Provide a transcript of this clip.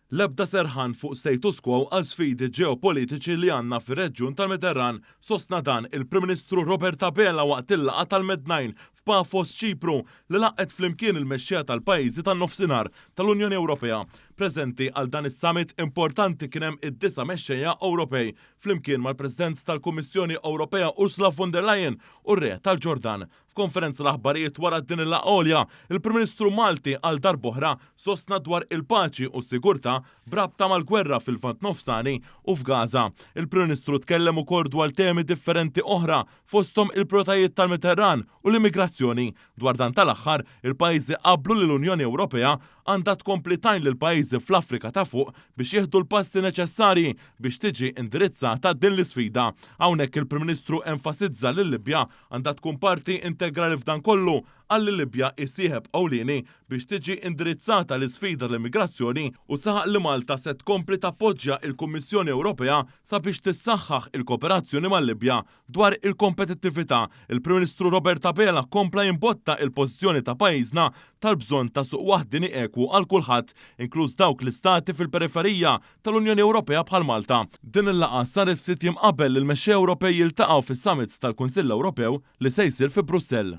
L-ebda serħan fuq status quo għal sfidi ġeopolitiċi li għandna fir-reġjun tal-Mediterran, sostna dan il-Prim Ministru Robert Abela waqt il-laqgħa tal-Mednine f'Paphos, Ċipru, li laqgħet flimkien il-mexxejja tal-pajjiżi tan-Nofsinhar tal-Unjoni Ewropea. Preżenti għal dan is-summit importanti kien hemm id-disa' mexxejja Ewropej, flimkien mal-President tal-Kummissjoni Ewropea Ursula von der Leyen u r-Re tal-Ġordan, F'konferenza l-aħbarijiet wara din il-laqgħa għolja, il-Prim Ministru Malti għal darb'oħra sostna dwar il-paċi u s-sigurtà b'rabta mal-gwerra fil-Lvant Nofsani u f'Gaza. Il-Prim Ministru tkellem ukoll dwar temi differenti oħra fosthom il-prijoritajiet tal-Mediterran u l-immigrazzjoni. Dwar dan tal-aħħar, il-pajjiżi qablu li l-Unjoni Ewropea għandha tkompli tgħin lill-pajjiżi fl-Afrika ta' Fuq biex jieħdu l-passi neċessarji biex tiġi indirizzata din l-isfida. Hawnhekk il-Prim Ministru enfasizza li l-Libja Għandha tkun parti integrali f'dan kollu, qal li l-Libja hi sieħeb ewlieni biex tiġi indirizzata l-isfida tal-immigrazzjoni u saħaq li Malta se tkompli tappoġġja il-Kummissjoni Ewropea sabiex tissaħħaħ il-kooperazzjoni mal-Libja. Dwar il-kompetittività, il-Prim Ministru Robert Abela kompla jimbotta il-pożizzjoni ta' pajjiżna tal-bżonn ta' suq waħdieni ekwu għal kulħadd, inkluż dawk l-istati fil-periferija tal-Unjoni Ewropea bħal Malta. Din il-laqgħa saret ftit jiem qabel li l-mexxejja Ewropej jiltaqgħu fis-Summit tal-Kunsill Ewropew li se jsir fi Brussell.